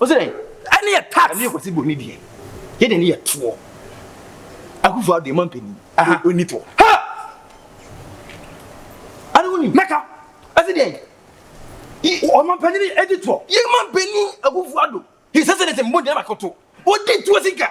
Ose dɛn? Ɛne yɛ tax. Ɛne yɛ kwasi boni deɛ. Yɛ deɛ ne yɛ toɔ. Akufo ado ɛma mpanyin. Aha. Oni toɔ. Ha! Ade wo ni. Mɛka. Ɛse dɛn? Ɔma mpanyin ɛdi toɔ. Yɛ ma mpanyin akufo ado. His excellency mbɔ gyina bakoto. Odi toɔ sika.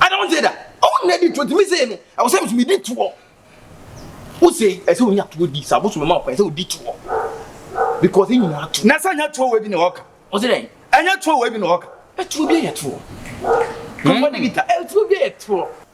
I don't say that. Oh, na di to me say no. I was saying to me di to. Who say? I say we need to di. Sa bosu me ma ko. I say we di to. Because in na to. Na sa nya to we bi na oka. O say then. Anya to we bi na oka. E to bi e to. Come on, Nikita. E to bi e to.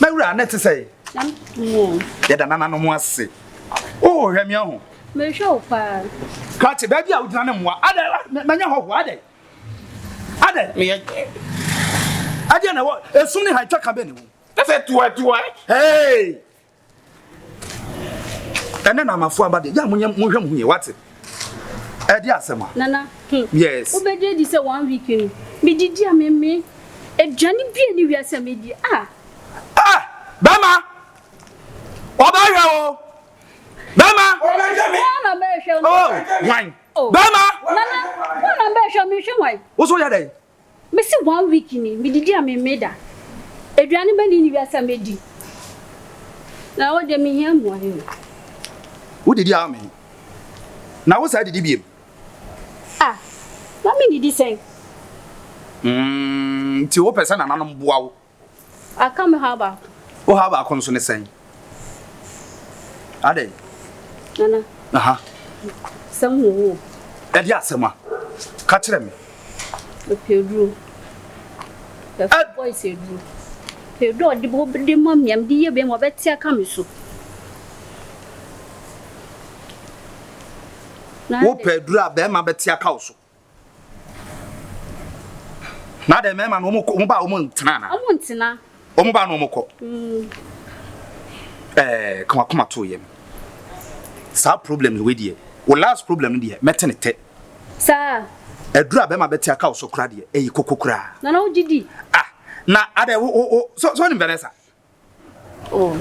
Mawura, na ɛte sɛ yɛda nananom ase. Oh, hwɛ me ahu. Mehwɛ wo paa. Krakye, baabi a wogyina ne mmoa. Adɛ, manya hɔhoɔ, adɛ. Adɛ. Meyɛ. Adɛ na ɛwɔ, esum ne ha, ɛtwa ka bɛ ne wo. Ɛsɛ tuwa tuwa. Hey! ɛnɛ na amafo aba deɛ gya mo nyɛ mo hwɛ mo ho yie wate ɛde asɛm a nana hmm. yes wobɛgye di sɛ one week no medidi a meme aduane bi a ne wia sɛ medi a ah. ah bɛma ɔbɛhwɛ o bɛma ɔna bɛhwɛ o oh, wan oh. bɛma nana ɔna bɛhwɛ mehwɛ wan wo so yɛ dɛn Mesi one week ni me didi a me mmee da aduane bɛni ne wiase a mɛdi na ɛhɔ deɛ me hia mmuae o. Wo didi a ame na wo saa didi biem. Ah na me didi sɛn. Umm nti wo pɛ sɛ nananom boa wo. Aka me haw baako. Wo haw baako no so ne sɛn? Adɛn? Nana. Aha. Sɛm wɔ wo. Ɛde asɛm a. Ka kyerɛ me. Ɛpɛduro. Ɛfɛ boys ɛduro. Ɛduro ɔde bɔ de ma mmiam de yɛ bɛn mu ɔbɛte aka me so. Wopɛ aduro a bɛrima bɛte aka wo so. Na dɛ mɛma no ɔmo kɔ ɔmo ba ɔmo ntena na. Ɔmo ntena. Ɔmo ba na ɔmo kɔ. Ɛɛ ka wakoma to yɛm. Saa problem no wei deɛ wo last problem no deɛ mɛte ne tɛ. Saa. Ɛduru a bɛma bɛte aka wo so kora deɛ ɛyɛ koko koraa. Nana wogye di. Ah na adɛ wo wo so so nim Vanessa. Oh,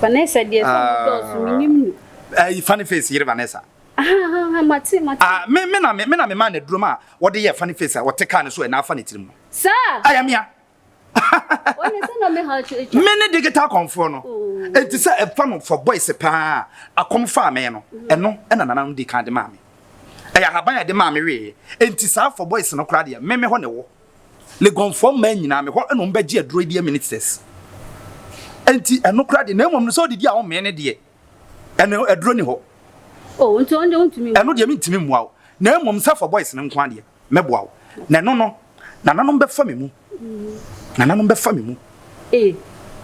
Vanessa deɛ sɛ ɔmo dɔɔso, ah. menim no. Ayi, eh, funny face yere Vanessa. Ahahaha, mate, mate. Ah, me, me na me, me na me maa no aduro ma wɔde yɛ funny face a wɔte kaa no so ɛna afa ne tirim no. Saa. Ayɛ mea. Wɔne sɛ na ɔmɛ ha ɔkyerɛkyerɛ. Me ne digital kɔnfoɔ no. Oh. Eti sɛ ɛfa no for boys paa akɔm faa me no, mm-hmm. ɛno ɛna nana no di kan de maa me. Ɛyɛ ahaban a ɛde maa me wee. Eti saa for boys no koraa deɛ, me me hɔ na ɛwɔ. Legonfoɔ mmaa nyinaa me hɔ na wɔn bɛgye aduro yi deɛ ministers nti ɛno kora deɛ na mmom no sɛ ɔdidi a ɔmmee ne deɛ ɛno aduro ni hɔ oh, nti ɔnde ɔntumi ɛno deɛ mentumi mmoa wo na mmom sɛ fɔ boys no nko adeɛ mɛboa wo na ɛno no nananom bɛfa me mu nananom bɛfa me mu eh.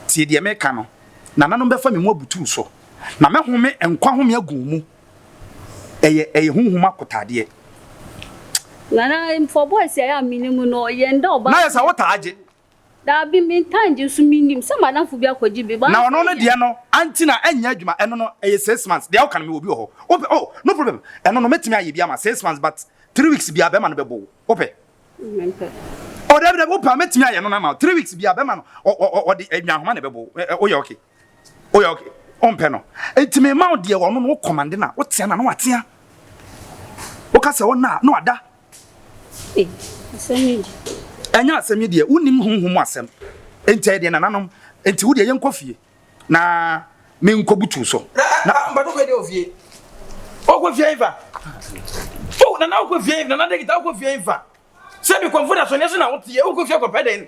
tie deɛ meka no nananom bɛfa me mu abutu so na mɛhome nkwa home agu mu Ɛyɛ ɛyɛ honhom akotadeɛ. Nana mfɔ boys a ɛyɛ a menim no yɛn da ɔbaa. Nayɛ sɛ wo taa gye. Daabi me ntaa ngye nso me nim sɛ madamfo bi akɔgye bi but. Na ɔno no deɛ no anti na ɛnyɛ adwuma ɛno no ɛyɛ six months deɛ woka no mewɔ bi wɔ hɔ wopɛ oh no problem ɛno no mɛtumi ayɛ bi ama six months but three weeks biara bɛma no bɛbɔ wo wopɛ. Mempɛ. Oh dabi dabi wopɛ a mɛtumi ayɛ no no ama wo three weeks biara bɛma no ɔ ɔ ɔde nwanhoma na ɛbɛbɔ wo woyɛ okay. woyɛ ok wompɛ no nti mema wo deɛ wɔno no wo kɔmande no a wotea no a na watea woka sɛ ɔna a na wada ɛnyɛ asɛm yi deɛ wonim honhom mu asɛm nti ɛyɛ deɛ nananom nti wo deɛ yɛnkɔ fie na menkɔbutu so mpatɔ kɔ deɛ ofie wokɔ fie mfa nana wokɔ fie nana de kita wokɔ fie mfa sɛ bi kɔmfo da so ne so na woteɛ wokɔ fie kɔpɛ dɛn